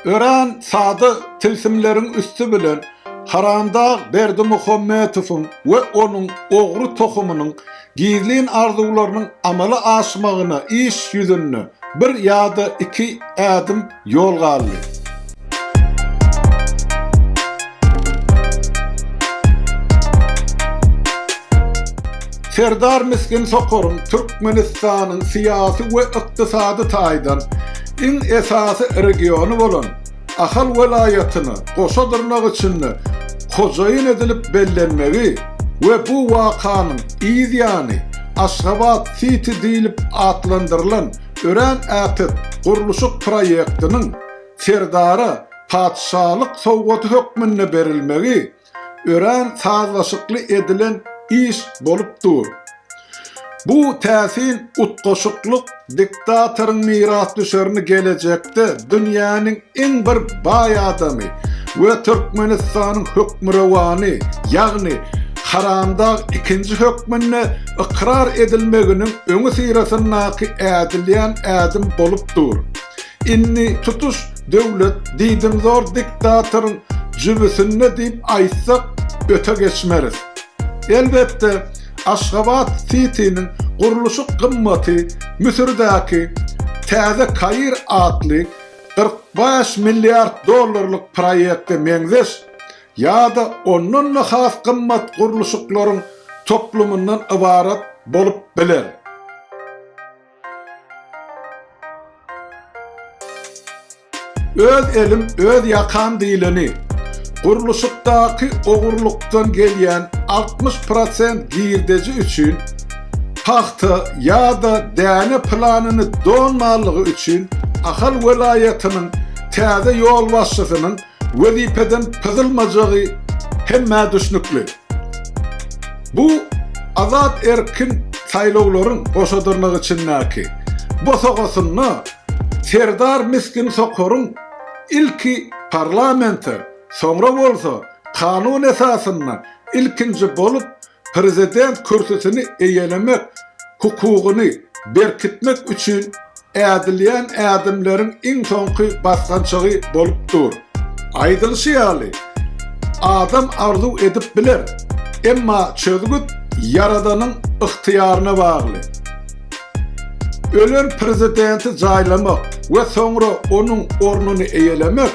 Örän sada tilsimleriň üsti bilen Haramdag Berdimuhammetowyň we onuň ogry tohumynyň gizlin arzuwlarynyň amala aşmagyna iş ýüzünde bir ýa-da iki ädim ýol galdy. Serdar Misgin Sokaryň Türkmenistanyň syýasy we ykdysady taýdan Iň esasy regiony bolan Ahal welaýatyny goşa dyrnak içinde hojaýyn edilip bellenmegi we bu wakanyň yz ýany Aşgabat Siti diýlip atlandyrylan örän äpet gurluşyk proýektiniň Serdara Patyşalyk sowgady hökmünde berilmegi örän sazlaşykly edilen iş bolup dur. Bu täsin utgaşyklyk diktatoryň mirasdüşerini gelejekde dünýäniň iň bir baý adamy we Türkmenistanyň Hökmürowany, ýagny Haramdag ikinji hökmünde ykrar edilmeginiň öňüsyrasyndaky ädilýän ädim bolup dur. Indi tutuş Döwlet diýdimzor diktatoryň jübüsinde diýip aýtsak öte geçmeris. Elbetde, Aşgabat Sitiniň gurluşyk gymmaty Müsürdäki Täze Kair atly kyrk bäş milliard dollarlyk proýekte meňzeş ýa-da ondan-da has gymmat gurluşyklaryň toplumyndan ybarat bolup biler. Öz elim, öz ýakam diýleni. Gurluşykdaky ogurlykdan gelýän altmyş prosent girdeji üçin pagta ýa-da däne planyny dolmanlygy üçin Ahal welaýatynyň täze ýolbaşçysynyň wezipeden pyzylmajagy hemmä düşnükli. Bu azat erkin saýlawlaryň goşadyrnak içindäki bosagasynda Serdar Miskin Sokaryň ilki parlamente, soňra bolsa kanun esasynda ilkinji bolup prezident kürsüsini eýelemek hukugyny berkitmek üçin ädilýän ädimleriň iň soňky basgançagy bolup dur. Aýdylyşy ýaly, adam arzuw edip biler, emma çözgüt Ýaradanyň ygtyýaryna bagly. Ölen prezidenti jaýlamak we soňra onuň ornuny eýelemek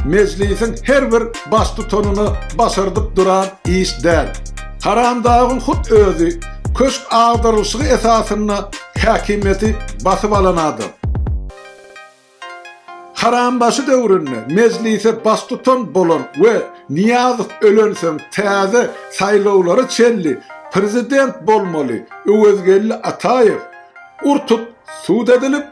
Mejlisiň her bir baştutanyna başardyp duran iş däl. Haramdagyň hut özi köşk agdarylyşygy esasynda häkimiýeti basyp alan adam. Harambaşy döwründe Mejlise baştutan bolan we Nyýazow ölensoň täze saýlawlara çenli prezident bolmaly Öwezgeldi Ataýew, urtup, sud edilip,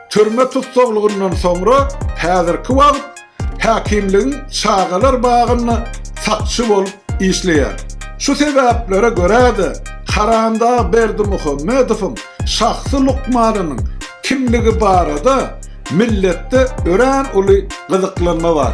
türme tussaglygyndan soňra häzirki wagt häkimligiň çagalar bagynda sakçy bolup işleýär. Şu sebäplere görä-de, Karandag Berdimuhamedowyň şahsy lukmanynyň kimligi barada milletde örän uly gyzyklanma bar.